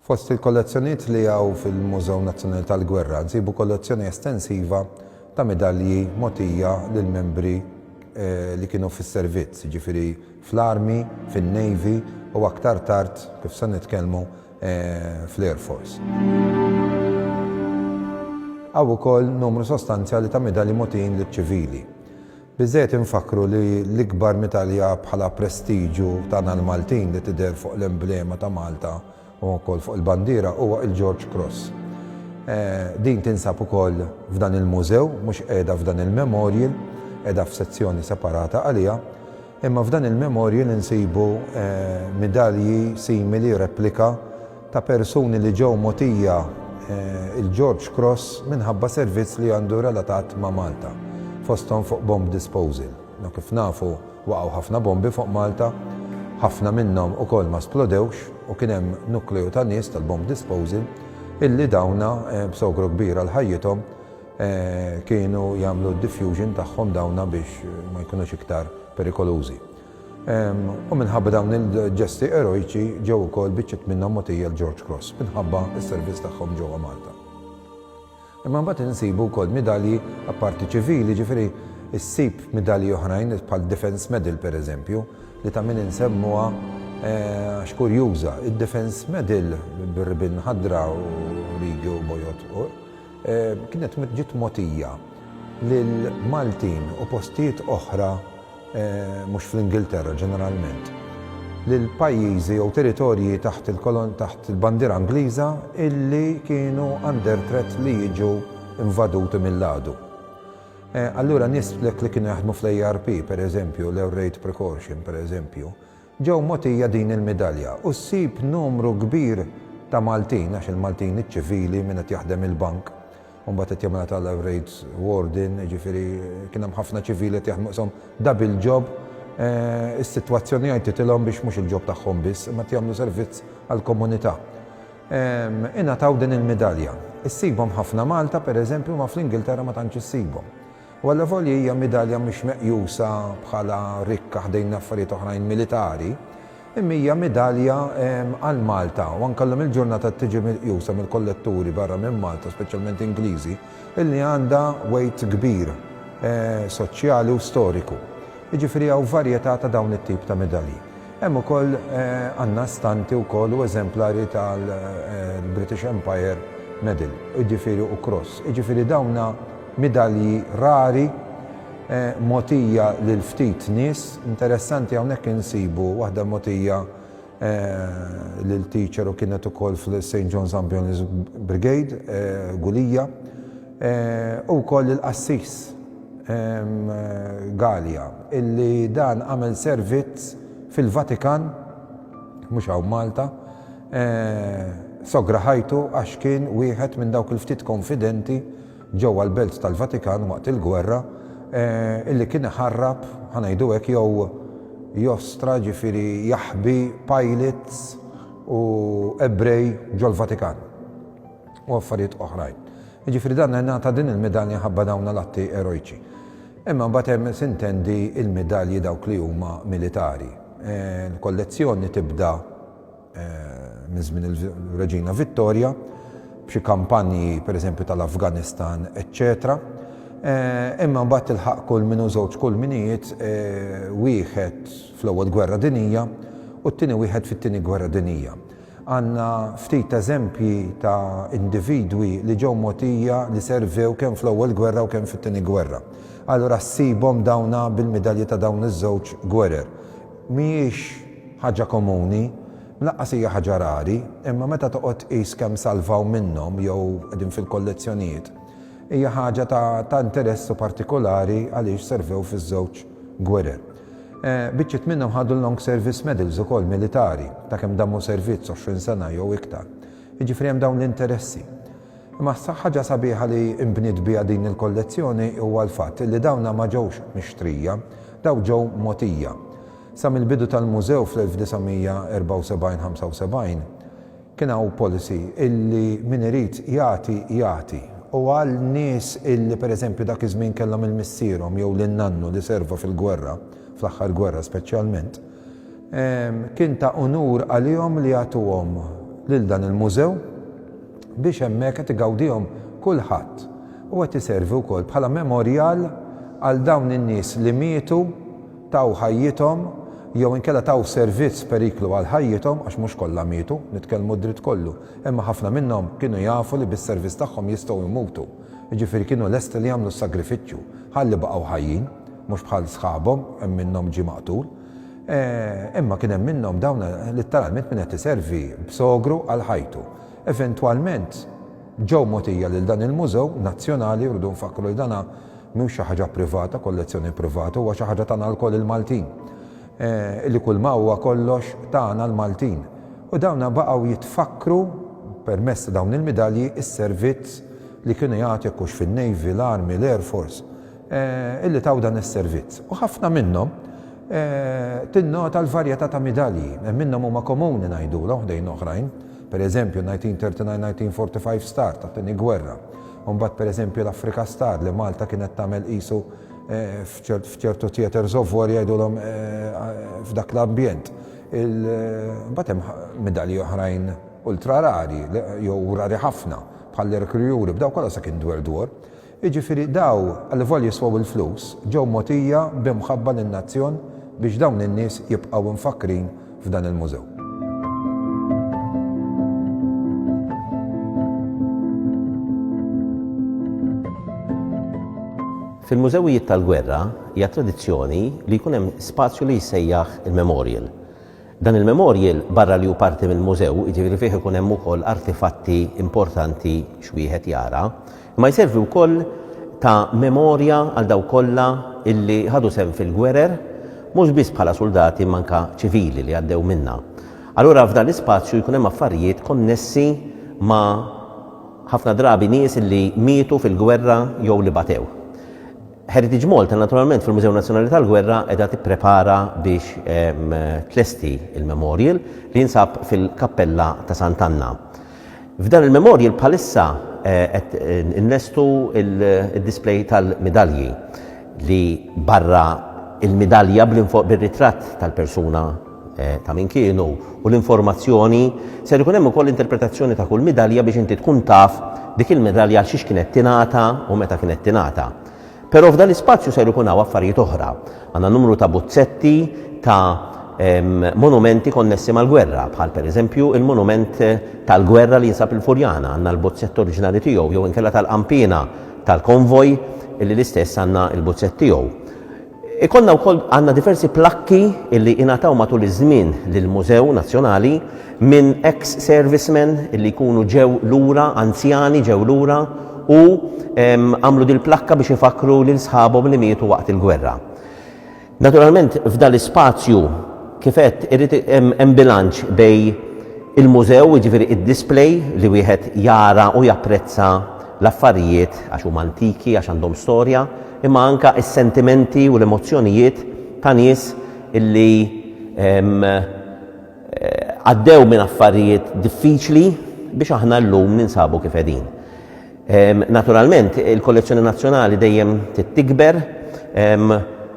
Fost il-kollezzjonijiet li hawn fil-Mużew Nazzjonali tal-Gwerra nsibu kollezzjoni estensiva ta' midalji mogħtija lil membri eh, li kienu fis-servizz, jiġifieri fl-Army, fin-Navy u aktar tard, kif se nitkellmu, fl-Air Force. Hawn ukoll numru sostanzjali ta' midalji mogħtijin liċ-ċivili. Biżżejjed infakkru li l-ikbar midalja bħala prestiġju tagħna l-Maltin li tidher fuq l-emblema ta' Malta u wkoll fuq il-bandiera huwa il-George Cross. Din tinsab ukoll f'dan il-mużew, mhux qiegħda f'dan il-memorial, qiegħda f'sezzjoni separata għaliha, imma f'dan il-memorial insibu midalji simili, replika, ta' persuni li ġew mogħtija il-George Cross minħabba servizz li għandu relatat ma' Malta, fosthom fuq bomb disposal. U kif nafu waqgħu ħafna bombi fuq Malta, ħafna minnhom ukoll ma splodewx u kien hemm nukleju ta' nies tal-bomb disposal illi dawn b'sogru kbir għal ħajjithom kienu jagħmlu d-diffusion tagħhom dawn biex ma jkunux iktar perikolużi. U minħabba dawn il-ġesti eroiċi ġew ukoll biċċiet minnhom mogħtija l-George Cross minħabba s-servizz tagħhom ġewwa Malta. Imma mbagħad insibu wkoll midalji apparti ċivili, jiġifieri ssib midalji oħrajn bħal Defence Medal pereżempju, li ta' min insemmuha għax kurjuża. Id-Defence Medal bir-ribien ħadra u rigi u bojod fuq kienet ġiet mogħtija lil Maltin u postijiet oħra mhux fl-Ingilterra ġeneralment, lil pajjiżi jew territorji taħt il-bandiera Ingliża illi kienu under threat li jiġu invaduti mill-għadu. Allura nies li kienu jaħdmu fl-ARP, pereżempju, l-Air Raid Precaution, pereżempju, Ġew mogħtija din il-midalja u ssib numru kbir ta' Maltin, għax il-Maltin iċ-ċivili, min qed jaħdem il-bank, u mbagħad qed jagħmilha ta' life rates warden, jiġifieri kien hemm ħafna ċivili qed jaħdmu qishom double job, is-sitwazzjoni għajtitilhom biex mhux il-job tagħhom biss, imma qed jagħmlu servizz għall-komunità. Ingħataw din il-midalja. Issibhom ħafna Malta, pereżempju, imma fl-Ingilterra ma tantx issibhom. u allavolja hija midalja mhux meqjusa bħala rikka ħdejn affarijiet oħrajn militari, imma hija midalja għal Malta u anke llum il-ġurnata tiġi miqjusa mill-kolletturi barra minn Malta, speċjalment Ingliżi, illi għandha weight kbir soċjali u storiku. Jiġifieri hawn varjetà ta' dawn it-tip ta' midalji. Hemm ukoll għandna stampi wkoll u eżemplari tal-British Empire Medal, jiġifieri u cross. Jiġifieri dawn Midalji rari, mogħtija lil ftit nies. Interessanti hawnhekk insibu waħda mogħtija lil teacher u kienet ukoll fl-St John's Ambulance Brigade, Gulija, u wkoll lill-qassis Galea illi dan għamel servizz fil-Vatikan, mhux hawn Malta, sogra ħajtu għax kien wieħed minn dawk il-ftit konfidenti, ġewwa l-Belt tal-Vatikan waqt il-gwerra, illi kien iħarrab, ħa ngħidu hekk, jew jostra, jiġifieri jaħbi pilots u Ebrej ġol-Vatikan u affarijiet oħrajn. Jiġifieri dan ngħata din il-midalja ħabba dawn l-atti erojċi. Imma mbagħad hemm sintendi l-midalji dawk li huma militari. Il-kollezzjoni tibda minn żmien il-Reġina Vittorja, b'xi kampanji pereżempju tal-Afganistan, eċċetera. Eh, imma mbagħad tilħaq kull minu żewġ kull minijiet eh, wieħed fl-ewwel gwerra dinija u t-tieni wieħed fit-tieni gwerra dinija. Għandna ftit eżempji ta' individwi li ġew motija li servew kemm fl-ewwel gwerra u kemm fit-tieni gwerra. Allura ssibhom dawna bil-midalji ta' dawn iż-żewġ gwerer. Mhijiex ħaġa komuni, lanqas hija ħaġa rari, imma meta toqgħod tqis kemm salvaw minnhom jew qegħdin fil-kollezzjonijiet, hija ħaġa ta' interess u partikolari għaliex servew fiż-żewġ gwerer. Biċċiet minnhom ħadu l-Long Service Medals ukoll militari ta' kemm dammu servizz, 20 sena jew iktar. Jiġifieri hemm dawn l-interessi. Imma ħaġa sabiħa li nbniet biha din il-kollezzjoni huwa l-fatt li dawna ma ġewx mixtrija, dawn ġew mogħtija. Sa mill-bidu tal-mużew fl-1974-75, kien hawn policy illi min irid jagħti, jagħti. U għal nies illi pereżempju dak iż-żmien kellhom il missierhom jew lil nannu li serva fil-gwerra, fl-aħħar gwerra speċjalment, kien ta' unur għalihom li jagħtuhom lil dan il-mużew. biex hemmhekk qed igawdihom kulħadd u qed iservi wkoll bħala memorjal għal dawn in-nies li mietu, taw ħajjithom jew inkella taw servizz f'periklu għal ħajjithom, għax mhux kollha mietu, nitkellmu d-dritt kollu, imma ħafna minnhom kienu jafu li bis-servizz tagħhom jistgħu jmutu, jiġifieri kienu lesti li jagħmlu s-sagrifiċċju ħalli baqgħu ħajjin, mhux bħal sħabhom, hemm minnhom ġie maqtul, imma kien hemm minnhom dawn litteralment min qed iservi b'sogru għal ħajtu. Eventwalment, ġew mogħtija lil dan il-mużew nazzjonali, rridu nfakkru li dan mhux xi ħaġa privata, kollezzjoni privata, huwa xi ħaġa tagħna lkoll il-Maltin, li kulma huwa kollox tagħna l-Maltin. U dawn baqgħu jitfakkru permezz ta' dawn il-midalji s-servizz li kienu jagħtu jekk hux fin-Navy, l-Army, l-Air Force. illi taw dan is-servizz, u ħafna minnhom tinnota l-varjetà ta' midalji, hemm minnhom huma komuni ngħidulha ħdejn oħrajn, pereżempju 1939-1945 Star tat-Tieni Gwerra, u mbagħad pereżempju l-Afrika Star li Malta kienet tagħmel qisu f'ċertu theatres of war jgħidulhom f'dak l-ambjent. Mbagħad hemm midalji oħrajn ultra rari jew rari ħafna bħall-Hercule Europe, daw kollha sakemm dwar dwar. Jiġifieri daw, allivolja jiswew il-flus, ġew mogħtija b'imħabba lin-nazzjon biex dawn in-nies jibqgħu imfakkrin f'dan il-mużew. Fil-mużewijiet tal-gwerra hija tradizzjoni li jkun hemm spazju li jissejjaħ il-memorial. Dan il-memorial, barra li hu parti mill-mużew, jiġifieri fih ikun hemm ukoll artifatti importanti x'wieħed jara, imma jservi wkoll ta' memorja għal dawk kollha illi ħadu sehem fil-gwerer, mhux biss bħala suldati imma anke ċivili li għaddew minnha. Allura f'dan l-ispazju jkun hemm affarijiet konnessi ma' ħafna drabi nies illi mietu fil-gwerra jew li batew. Heritage Malta naturalment fil-Mużew Nazzjonali tal-Gwerra qiegħda tipprepara biex ehm, tlesti il-memorial li jinsab fil-Kappella ta' Sant'Anna. F'dan il-memorial bħalissa eh, qed eh, innestu il-display tal-midalji li barra il-midalja bil-ritratt tal-persuna ta' min kienu u l-informazzjoni, ser ikun hemm ukoll interpretazzjoni ta' kull midalja biex inti tkun taf dik il-midalja għal xiex kienet tingħata u meta kienet tingħata. Però f'dan l-ispazju ser ikun hawn affarijiet oħra. Għandna numru ta' buzzetti ta' monumenti konnessi mal-gwerra, bħal pereżempju il-monument tal-gwerra li jinsab il-Furjana, għandna l-buzzett oriġinali tiegħu jew inkella tal-qanpiena tal-konvoj illi l-istess għandna l-buzzett tiegħu. Ikollna wkoll għandna diversi plakki li ingħataw matul iż-żmien lill-Mużew Nazzjonali minn ex servicemen li jkunu ġew lura, anzjani ġew lura u għamlu dil-plakka biex ifakkru lil sħabhom li mietu waqt il-gwerra. Naturalment f'dan l-ispazju kif għedt irid hemm bilanċ bejn il-mużew, jiġifieri id-display li wieħed jara u japprezza l-affarijiet għax huma antiki, għax għandhom storja, imma anke s-sentimenti u l-emozzjonijiet ta' nies li għaddew minn affarijiet diffiċli biex aħna llum ninsabu kif qegħdin. Naturalment, il-kollezzjoni nazzjonali dejjem trid tikber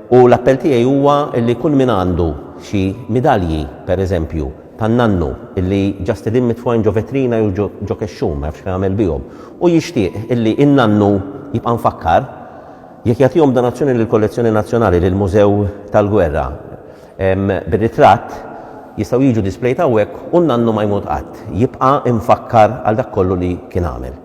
u l-appell tiegħi huwa li kull min għandu xi midalji, pereżempju, tan-nannu illi ġa stedien mitfugħin ġo vetrina jew ġo kexxun, ma jafx x'għamel bihom. Hu jixtieq illi n-nannu jibqa' mfakkar jekk jagħtihom donazzjoni lill-Kollezzjoni Nazzjonali, lill-Mużew tal-Gwerra. Bir-ritratt jistgħu jiġu displejed hawnhekk u n-nannu ma jmut qatt. Jibqa' mfakkar għal dak kollu li kien għamel.